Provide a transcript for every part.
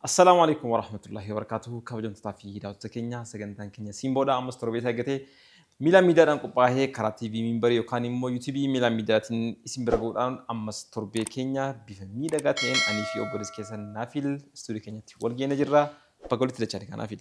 Assalaamu alaikum warahmatullahi wabarakatuhu kabajamtotaa fi daawwattoota keenya sagantaan keenya siin booda ammas torbee isaa eeggatee miila miidiyaadhaan qophaa'ee karaa TV miimbarii yookaan immoo YouTube miila miidiyaatiin isin bira ga'uudhaan ammas torbee keenya bifa miidhagaa ta'een anii fi obboleessi keessan Naafil istuudii keenyatti wal geena jirra baga walitti dachaanii kanaafil.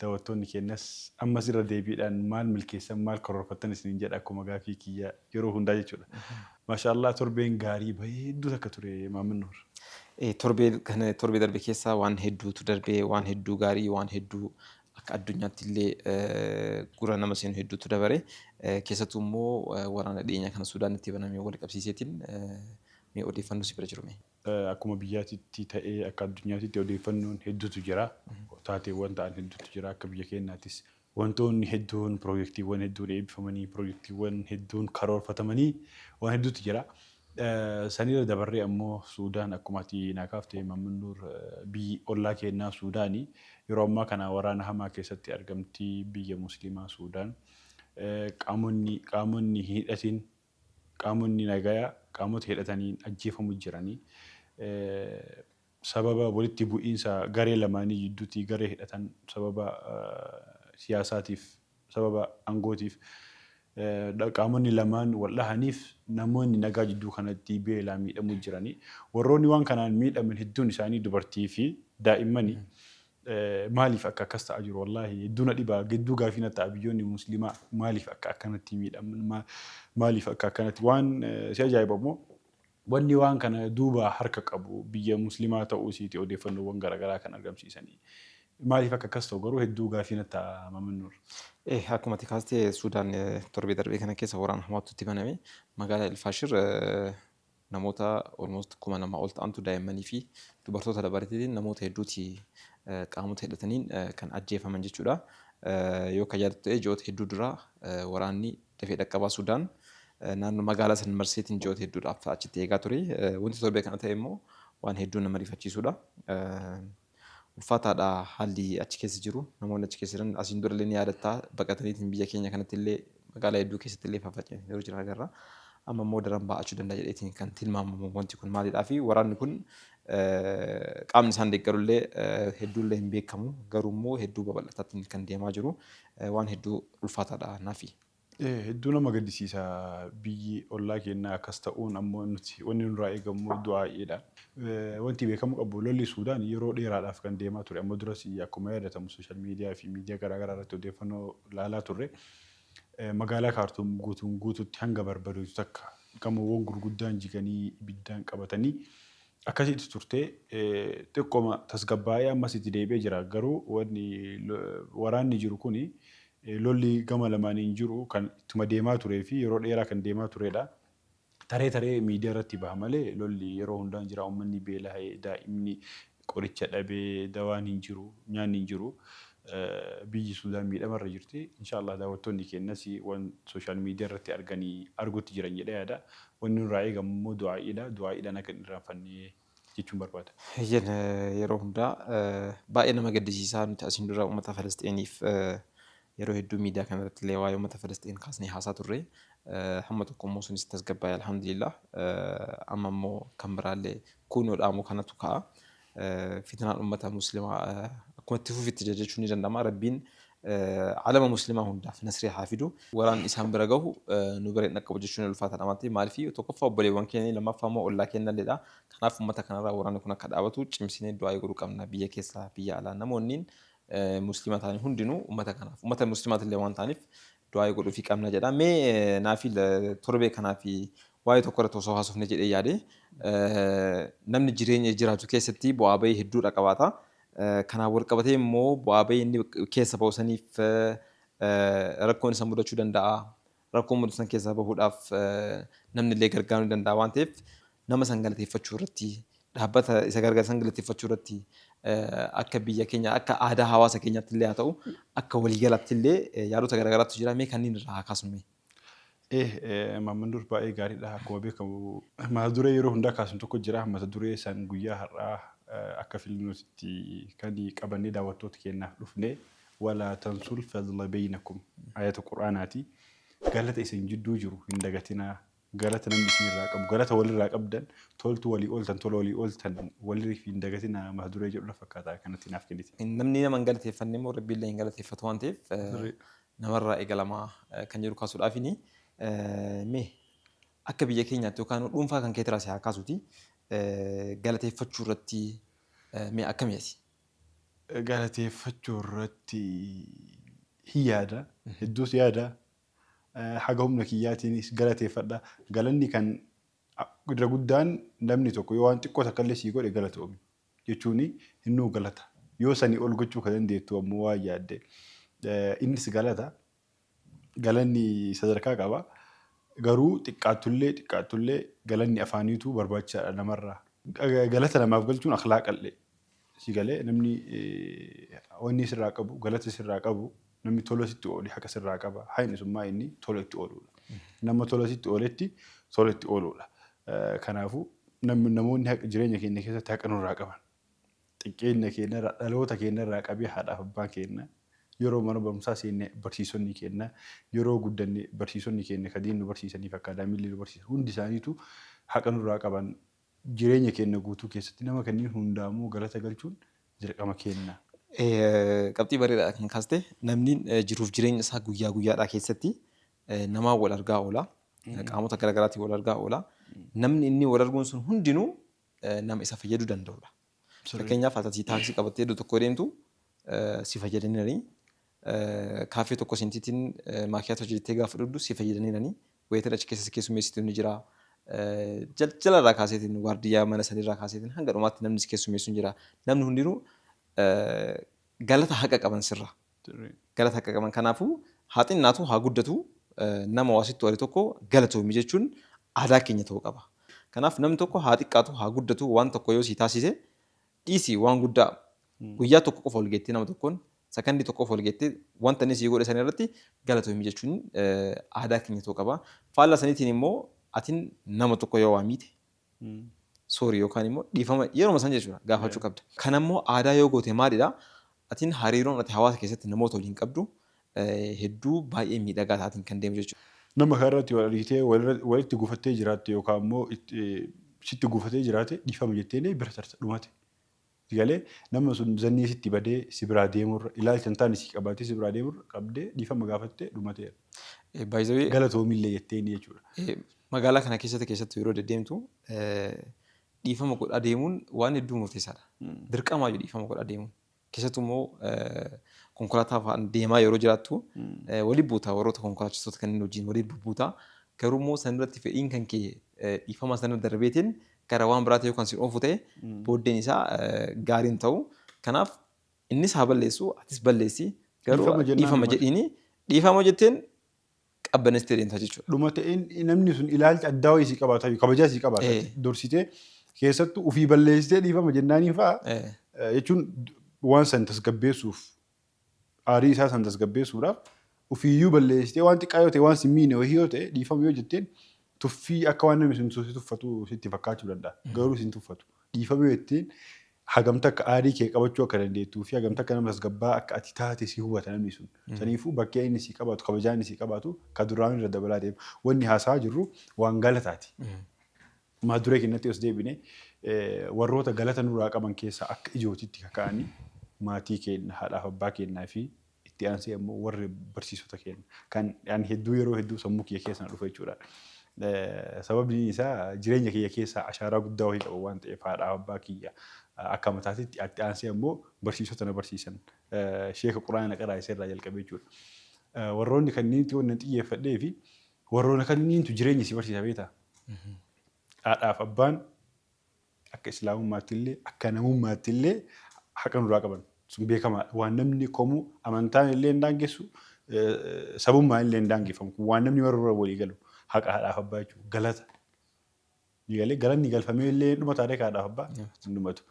Dawattoonni keenyas ammas irra deebiidhaan maal milkeessan maal karoorfattan isiniin jedha akkuma gaafii kiyya yeroo hundaa jechuudha. Masha Allah torbeen gaarii bareedduu takka ture Maamman Nuur. Ee torbee kana torbee darbe keessa waan hedduutu darbee waan hedduu gaarii waan hedduu akka addunyaatti illee gura nama seenu hedduutu dabare keessattuu immoo waraana dhiyeenya kana Suudaanitti baname wal qabsiiseetiin mee odeeffannoo si bira jiru mee. Akkuma biyyaatitti ta'ee akka addunyaatitti odeeffannoon hedduutu jira. Taateewwan ta'an hedduutu jira. Akka biyya keenyaattis wantoonni hedduun piroojeektiiwwan hedduun eebbifamanii piroojeektiiwwan hedduun karoorfatamanii waan hedduutu jira. Sanirra dabarree ammoo Suudaan akkuma ati naa kaafte Maammannuur biyyi ollaa keennaa Suudaani. Yeroo ammaa kana waraana hamaa keessatti argamti biyya musliimaa Suudaan. Qaamonni qaamonni hin hidhatin Qaamonni nagaya qaamota hidhataniin ajjeefamu jiranii sababa walitti bu'iinsa garee lamaanii jidduuti garee hidhatan sababa siyaasaatiif sababa angootiif qaamonni lamaan wal dhahaniif namoonni nagaa jidduu kanatti beelaan miidhamu jiranii warroonni waan kanaan miidhaman hedduun isaanii dubartii fi daa'immani Maaliif akka akkas ta'a jiru wallahi hedduu na dhiba gedduu gaafii na ta'a biyyoonni muslimaa maaliif akka akkanatti miidhaman maaliif akka akkanatti waan si ajaa'iba immoo wanni waan kana duuba harka qabu biyya muslimaa ta'uu isiiti odeeffannoowwan garagaraa kan argamsiisanii maaliif akka akkas ta'u garuu hedduu gaafii na ta'a Maman Nur. Eh akkuma ati kaaste Suudaan torbee darbee kana keessa waraana hamaatu itti baname magaalaa El Faashir Namoota almost 2000 ol ta'antu daa'immanii fi dubartoota dabalateetiin namoota hedduuti qaamota hidhataniin kan ajjeefaman jechuudha. Yoo kan yaadattu ta'e ji'oota hedduu dura waraanni dafee dhaqqabaa Sudaan naannoo magaalaa san marseetiin ji'oota hedduudhaaf achitti eegaa ture. Wanti torbee kana ta'e immoo waan hedduu nama rifachiisudha. Ulfaataadha haalli achi keessa jiru. Namoonni achi keessa jiran asiin dura illee ni yaadatta baqataniitiin biyya keenya kanatti illee magaalaa hedduu keessatti illee faffaca'anii yeroo jiran agarra. Amma immoo daran baa'achuu danda'a jedheetiin kan tilmaamamu wanti kun maalidhaa fi waraanni kun qaamni isaan deeggaru illee hedduu illee hin beekamu garuu immoo hedduu babal'ataatiin kan deemaa jiru waan hedduu ulfaataadha nafi. Hedduu nama gaddisiisa biyyi ollaa keennaa akkas ta'uun ammoo nuti wanni nurraa eegammoo du'aa'iidha. Wanti beekamuu qabu lolli Suudaan yeroo dheeraadhaaf kan deemaa ture amma duras akkuma yaadatamu social media fi media garaa garaa irratti odeeffannoo laalaa turre magaalaa Kaartuum guutuun guututti hanga barbadoytu takka gamoowwan gurguddaan jiganii ibiddaan qabatanii akkasii itti turtee xiqqoma tasgabbaa'ee ammas itti deebi'ee jira garuu wanni waraanni jiru kuni Lolli gama lamaaniin jiru kan ittuma deemaa turee fi yeroo dheeraa kan deemaa tureedha. Taree taree miidiyaa irratti baha malee lolli yeroo hundaa hin jira. Uummanni beelaha'ee, daa'imni qoricha dhabee, dawaan hin jiru, nyaanni hin jiru. Biyyi Suudaan miidhama irra jirti. Inshaa Allaah daawwattoonni keenyas waan sooshaal miidiyaa irratti arganii arguutti jiran jedhee yaada. Wanni nurraa eegamu immoo du'aa'iidha. Du'aa'iidhaan akka hin irraanfanne jechuun barbaada. Eeyyen yeroo hundaa baay'ee nama gaddisiisaa nuti asiin dura uummata Falasxiiniif yeroo hedduu miidiyaa kana irratti illee waa'ee uummata Falasxiin kaasnee haasaa turre hamma tokko immoo sunis tasgabbaa'e alhamdulillaah amma immoo kan biraa illee kuunoo dhaamoo kanatu ka'a fitnaan uummata muslimaa akkuma itti fufitti jira jechuun ni danda'ama rabbiin Alama muslimaa hundaaf nasrii haa fidu. Waraanni isaan bira gahu nu bira hin dhaqqabu jechuun ulfaataadha waan ta'eef maaliif tokkoffaa obboleewwan keenya lammaffaa immoo ollaa keenyalleedha. Kanaaf ummata kanarraa waraanni kun akka dhaabatu cimsinee du'aa'ii godhuu qabna biyya keessaa biyya alaa namoonniin musliima ta'an hundinuu ummata kanaaf ummata musliimaatillee waan ta'aniif du'aayi godhuufi qabna jedha mee naafi torbee kanaafi waa'ee tokko irratti osoo haasofne jedhee yaade namni jireenya jiraatu keessatti bu'aa bahii hedduudha qabaata kanaan wal qabatee immoo bu'aa bahii inni keessa bahu saniif rakkoon isa mudachuu danda'a rakkoo mudatan keessaa bahuudhaaf namni illee gargaaruu danda'a waan ta'eef nama san galateeffachuu irratti, dhaabbata isa gargaare san galateeffachuu irratti akka biyya keenya akka aadaa hawaasa keenyaatti illee haa ta'u akka walii galaatti illee yaadota garaagaraatu jira mee kanneen irraa haa kaasnu mee. Eh, Maamman Nuur baay'ee gaariidha. Akkuma beekamu mata duree yeroo hundaa kaasnu tokko jira. Mata duree san guyyaa har'aa akka filannootitti kan qabannee daawwattoota keenyaaf dhufne walaa tansul fadla beynakum ayata qur'aanaati. Galata isin jidduu jiru hin dagatinaa. Galata namni isin irraa qabu. Galata wal irraa qabdan. Toltu walii ooltan, tola walii ooltan. Waliif hin dagatinaa mata duree jedhu na fakkaata akkanatti naaf kennite. Namni nama hin galateeffanne immoo Rabbi illee hin galateeffatu waan ta'eef Sirriidha. nama irraa eegalama kan jedhu kaasuudhaafini. Mee akka biyya keenyaatti yookaan dhuunfaa kan keetirraa si haa kaasuuti. Galateeffachuu irratti mee akkami ati? Galateeffachuu irratti hin yaada. Hedduus yaada. haga humna kiyyaatiin si galateeffadha. Galanni kan irra guddaan namni tokko yoo waan xiqqoo takka illee sii godhe galatoomi jechuun innuu galata. Yoo sanii ol gochuu ka dandeettu ammoo waan yaadde innis galata. Galanni sadarkaa qaba. Garuu xiqqaattullee xiqqaattullee galanni afaaniitu barbaachisaadha namarraa. Galata namaaf galchuun akhlaaqallee Si galee namni wanni sirraa qabu galata sirraa qabu namni tola sitti oole haqa sirraa qaba hayni sun maa inni tola itti ooluudha. Nama tola sitti ooletti tola itti ooluudha. Kanaafuu namni namoonni haqa jireenya keenya keessatti haqa nurraa qaban xiqqeenya keenya irraa dhaloota keenya irraa qabee haadhaaf abbaan keenya yeroo mana barumsaa seenne barsiisonni keenya yeroo guddanne barsiisonni keenya ka diin nu barsiisanii fi akkaadaamiillee nu barsiisan hundi isaaniitu haqa nurraa qaban Jireenya keenna guutuu keessatti nama kanniin hundaa ammoo galata galchuun dirqama keenna. Qabxii bareedaadha kan kaaste. Namni jiruuf jireenya isaa guyyaa guyyaadhaa keessatti namaan wal argaa oola. Qaamota gara garaatiin wal argaa oola. Namni inni wal arguun sun hundinuu nama isa fayyaduu danda'udha. Fakkeenyaaf ati taaksii qabattee iddoo tokko deemtu si fayyadaniirani. Kaaffee tokko seentiitiin maakiyaatoo jettee gaafa dhugdu si fayyadaniirani. Wayitan achi keessa si keessummeessitu ni jira. Jalqala irraa kaaseetiin waardiyyaa mana sanii irraa kaaseetiin hanga dhumaatti namni si keessummeessu ni jira. Namni hundinuu galata haqa qaban sirra. Galata haqa qaban kanaafuu haa xinnaatu haa guddatu nama waa sitti wale tokko galatoomi jechuun aadaa keenya ta'uu qaba. Kanaaf namni tokko haa xiqqaatu haa guddatu waan tokko yoo sii taasise Dhiisi waan guddaa guyyaa tokko qofa wal geettee nama tokkoon sakandii tokko qofa wal geettee wanta inni sii godhe sana irratti galatoomi jechuun aadaa keenya ta'uu qaba. Faallaa saniitiin immoo atin nama tokko yoo waa miite sorry yookaan immoo dhiifama yeruma san jechuudha gaafachuu qabda. Kana immoo aadaa yoo goote maalidha atin hariiroon ati hawaasa keessatti namoota waliin qabdu hedduu baay'ee miidhagaa taatiin kan deemu jechuudha. Nama karaa irratti wal argitee walitti gufattee jiraatte yookaan immoo sitti gufatee jiraate dhiifama jetteenii bira tarta dhumate. Galee nama sun zannii sitti badee si biraa deemurra ilaalcha hin taane si qabaatee si biraa deemurra qabdee dhiifama gaafattee dhumateera. Baay'ee Galatoomillee jetteenii jechuudha. magaalaa kana keessatti keessattuu yeroo deddeemtu dhiifama godhaa deemuun waan hedduu murteessaadha. Dirqamaa jiru dhiifama godhaa deemuun. Keessattuu immoo konkolaataa fa'aan deemaa yeroo jiraattu waliin buuta warroota konkolaachistoota kanneen wajjin waliin bubbuuta. Garuu immoo san irratti fedhiin kan kee dhiifama sana darbeetiin gara waan biraatti yoo kan sin oofu ta'e booddeen isaa gaarii hin ta'u. Kanaaf innis haa balleessu atis balleessi garuu Dhiifama jennaan dhiifama maal? jedhiini dhiifama jetteen qabbaneessitee deemta jechuudha. dhuma ta'een namni sun ilaalcha addaa wayii sii qabaata jechuudha. Kabajaa sii qabaata Eh. jechuudha. Dorsitee keessattuu ofii balleessitee dhiifama jennaanii fa'a Eh, eh, jechuun waan san tasgabbeessuuf aarii isaa san tasgabbeessuudhaaf ofiiyyuu balleessitee waan xiqqaa yoo ta'e waan si miine wayii yoo ta'e dhiifama yoo jetteen tuffii akka waan namni sun si tuffatu sitti fakkaachuu danda'a. Garuu si hin tuffatu. Dhiifama jetteen hagam takka aarii kee qabachuu akka dandeettuu fi hagam takka nama tasgabbaa'aa akka ati taate si hubata namni sun. Saniifuu bakkee inni sii qabaatu, kabajaa inni sii qabaatu ka duraanuu irra dabalaa deema. Wanni haasa'aa jirru waan galataati. Maa duree kennatti os deebine warroota galata nurraa qaban keessaa akka ijootitti ka ka'anii maatii keenna, haadhaaf abbaa keennaa fi Itti aansee ammoo warri barsiisota keenya kan ani hedduu yeroo hedduu sammuu kiyya keessa na dhufa jechuudha. Sababni isaa jireenya kiyya keessaa ashaaraa guddaa wahii qaban waan ta'eef haadhaa fi abbaa kiyya akka mataatitti itti aansee ammoo barsiisota na barsiisan sheeka quraana na qaraasise irraa jalqabee jechuudha. Warroonni kanniinitti wanni an xiyyeeffadhee fi warroona kanniintu jireenya si barsiisa beektaa? Haadhaa fi abbaan akka islaamummaatti illee akka namummaatti illee haqa nurraa qaban sun beekamaadha waan namni komuu amantaan illee hin daangessu sabummaan illee hin daangeffamu kun waan namni maruu irra walii galu haqa haadhaaf abbaa jechuudha galata galee galanni galfamee illee dhuma taatee haadhaaf abbaa hin dhumatu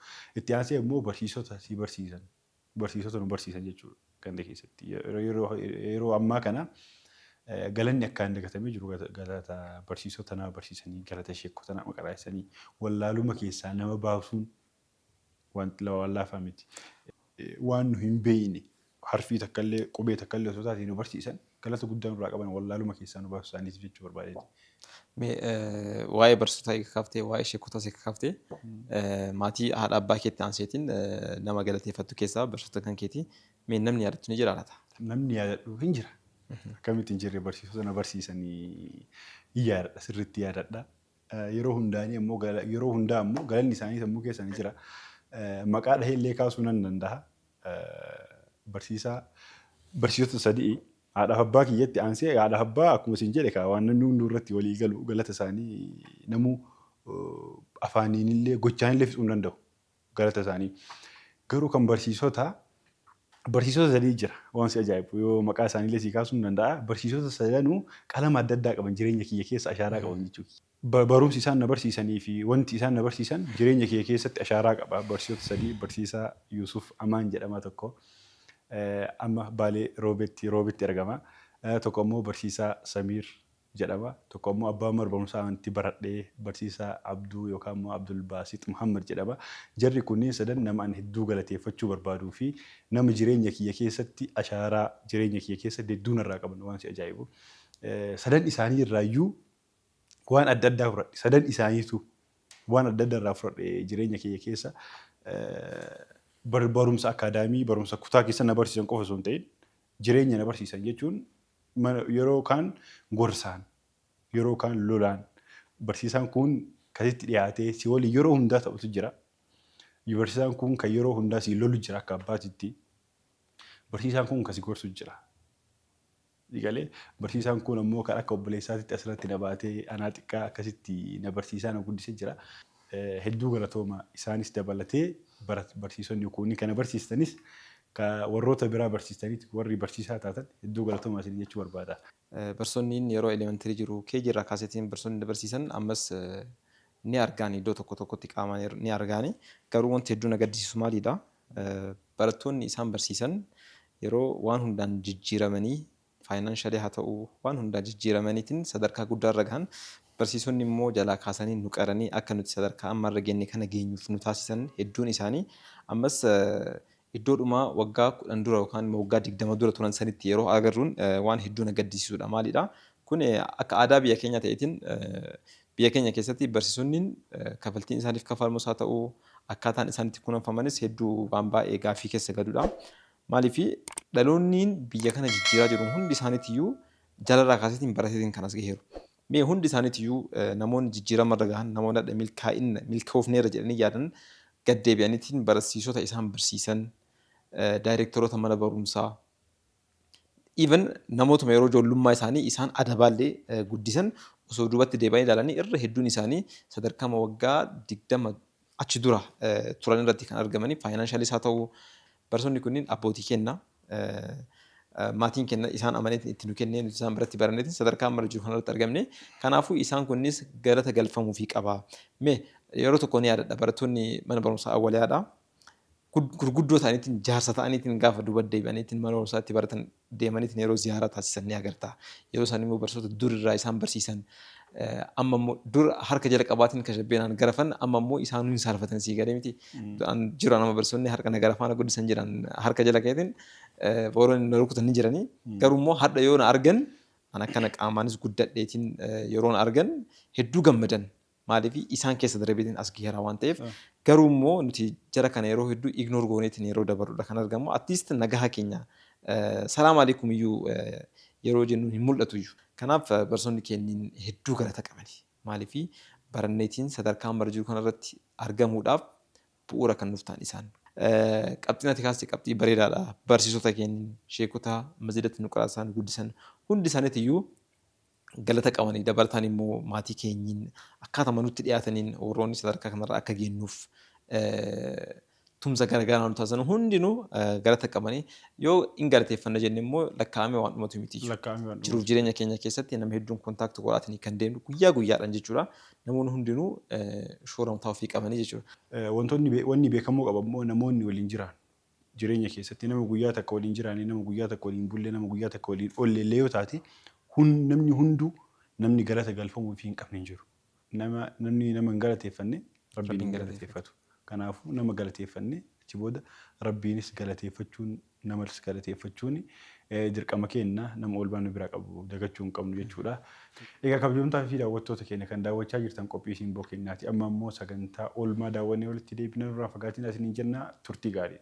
itti aansee immoo barsiisota si barsiisan barsiisota nu barsiisan jechuudha ganda keessatti. Yeroo ammaa kana galanni akkaan dagatamee jiru galata barsiisota nama barsiisanii galata sheekota nama qaraasisanii wallaaluma keessaa nama baasuun wanti waan laafaa miti. Waan nu hin beeyne harfii takkallee qubee takkallee osoo taate nu barsiisan Galata guddaa nurraa qaban wallaaluma keessaa nu baasu isaaniitiif jechuu barbaadeeti. Mee waa'ee barsiisotaa eega kaaftee waa'ee sheekotaas eega kaaftee maatii haadha abbaa keetti aanseetiin nama galateeffattu keessaa barsiisota kan keetii mee namni yaadattu ni jira laata? Namni yaadadhu hin jira. Akkamitti hin jirre barsiisota na barsiisanii hin yaadadha sirriitti yaadadha. Eh, yeroo hundaanii ammoo gala- yeroo hundaa ammoo galanni isaanii sammuu keessa ni jira. Eh, Maqaa dhahee illee kaasuu nan danda'a. Eh, Barsiisaa barsiisota sadii haadhaaf abbaa kiyyatti aansee haadhaaf abbaa akkuma isin jedhe kaa waan namni hunduu irratti walii galu galata isaanii namuu eh, afaaniin illee gochaan illee fixuu hin danda'u. galata isaanii. Garuu kan barsiisota barsiisota sadii jira waan si ajaa'ibu yoo maqaa isaaniillee sii kaasuu hin danda'a barsiisota sadanuu qalama adda addaa qaban jireenya kiyya keessa ashaaraa qaban jechuu kiyya. Barumsi isaan na barsiisanii fi wanti isaan na barsiisan jireenya kiyya keessatti ashaaraa qaba barsiisota sadii barsiisaa Yuusuf Amaan jedhama tokko amma Baalee Roobeetti Roobeetti argama tokko ammoo barsiisaa Samiir jedhama. Tokko ammoo abbaa mana barumsaa amantii baradhe, barsiisaa Abduu yookaan immoo Abdulbaasix Muhammad jedhama. Jarri kunneen sadan nama ani hedduu galateeffachuu barbaaduu fi nama jireenya kiyya keessatti ashaaraa jireenya kiyya keessatti hedduu narraa qaban waan si ajaa'ibu. Sadan isaanii irraa iyyuu waan adda addaa fudhadhe. Sadan isaaniitu waan adda addaa irraa fudhadhe jireenya kiyya keessa. Barumsa akaadaamii, barumsa kutaa keessa na barsiisan qofa osoo hin ta'in jireenya na barsiisan jechuun Yeroo kaan gorsaan, yeroo kaan lolaan barsiisaan kun kan sitti dhiyaatee si waliin yeroo hundaa taphatu jira. Barsiisaan kun kan yeroo hundaa si lolu jira akka abbaatitti. Barsiisaan kun kan si gorsu jira. Galee barsiisaan kun ammoo kan akka obboleessaatitti asirratti na baatee anaa xiqqaa akkasitti na barsiisaa na guddisee jira. hedduu galatooma isaanis dabalatee barat barsiisonni kuunni kana barsiistanis ka warroota biraa barsiistaniit warri barsiisaa taatan hedduu galatooma isiniin jechuu barbaada. Barsonniin yeroo elementary jiru KG irraa kaaseetiin barsonni na barsiisan ammas ni argaani iddoo tokko tokkotti qaamaan ni argaani garuu wanti hedduu na gaddisiisu maaliidha barattoonni isaan barsiisan yeroo waan hundaan jijjiiramanii financially haa ta'uu waan hundaan jijjiiramaniitiin sadarkaa guddaa irra gahan, barsiisonni immoo jalaa kaasanii nu qaranii akka nuti sadarkaa amma irra geenye kana geenyuuf nu taasisan hedduun isaanii ammas iddoodhuma waggaa 10 dura yookaan immoo waggaa 20 dura turan sanitti yeroo agarruun waan hedduu na gaddisiisuudha. Maaliidha kun akka aadaa biyya keenyaa ta'eetiin biyya keenya keessatti barsiisonniin kafaltiin isaaniif kafalmus haa ta'uu akkaataan isaan itti kunuunfamanis hedduu waan baay'ee gaaffii keessa galuudha. Maaliif dhaloonniin biyya kana jijjiiraa jiru hundi isaaniitiyyuu jalaraa kaaseetiin barateetiin kan as gaheeru. Mee hundi isaaniitiyyuu namoonni jijjiirama irra gahan, namoonni hadha milkaa'inna, milkoofneerra jedhanii yaadan gad deebi'aniitiin barasiisota isaan barsiisan, daayreektaroota mana barumsaa, even namootuma yeroo ijoollummaa isaanii isaan adabaallee guddisan osoo duubatti deebi'anii ilaalanii irra hedduun isaanii sadarkaama waggaa 20 achi dura turan irratti kan argamanii faayinaanshalis haa ta'u barsoonni kunniin abbootii kenna maatiin kenna isaan amaneetiin itti nu kennee nuti isaan biratti baranneetiin sadarkaa amma jiru kanarratti argamne kanaafuu isaan kunnis galata galfamuu fi qaba mee yeroo tokko ni yaadadha barattoonni mana barumsaa awwaliyaadha gurguddoo ta'aniitiin jaarsa ta'aniitiin gaafa duba deebi'aniitiin mana barumsaatti baratan deemaniitiin yeroo ziyaaraa taasisan ni agarta. Yeroo isaan immoo barsiisota dur irraa isaan barsiisan amma immoo dur harka jalqabaatiin kashabbeenaan garafan amma immoo isaan hin saalfatan sii galee miti. An jiru nama barsiisonni harka na garafaa na guddisan jiran harka jala keetiin warroonni na rukutan ni jiranii. Garuu immoo hadha yoo na argan an akkana qaamaanis guddadheetiin yeroo na argan hedduu gammadan. Maaliif isaan keessa darbeetiin as gaheera waan ta'eef. Garuu immoo nuti jara kana yeroo hedduu ignore gooneetiin yeroo dabarrudha kan argamu. At least nagaha keenya salaam aleekum iyyuu yeroo jennu hin mul'atu iyyuu. Kanaaf barsoonni keenniin hedduu galata qabani. Maaliif baranneetiin sadarkaa amma irra jiru kana irratti argamuudhaaf bu'uura kan nuuf ta'an isaan. Qabxiin ati kaaste qabxii bareedaadha. Barsiisota keenniin, sheekota masjidatti nu qaraasisaa nu guddisan hundi isaaniitiyyuu galata qabani dabalataan immoo maatii keenyiin akkaatama nutti dhiyaataniin warroonni sadarkaa kanarra akka geennuuf tumsa garagaraa nu taasisan hundinuu galata qabani yoo hin galateeffanna jenne immoo lakkaa'amee waan dhumatu miti jiruuf jireenya keenya keessatti nama hedduun kontaakti godhaatanii kan deemnu guyyaa guyyaadhaan jechuudha namoonni hundinuu shoora mataa ofii qabanii jechuudha. Wantoonni wanni beekamuu qabu immoo namoonni waliin jiraan jireenya keessatti nama guyyaa takka waliin jiraanne, nama guyyaa takka waliin bulle, nama guyyaa takka waliin oolle illee yoo taate hun namni hunduu namni galata galfamuufii hin qabne hin jiru. Nama namni nama hin galateeffanne Rabbiin hin galateeffatu. Kanaafuu nama galateeffannee achi booda Rabbiinis galateeffachuun namas galateeffachuun dirqama keenna nama oolmaa nu biraa qabu dagachuu hin qabnu jechuudha. Egaa kabajamtootaa fi daawwattoota keenya kan daawwachaa jirtan qophii Simboo keenyaati. Amma immoo sagantaa oolmaa daawwannee walitti deebina nurraa hin fagaatinaa isiniin jenna turtii gaarii.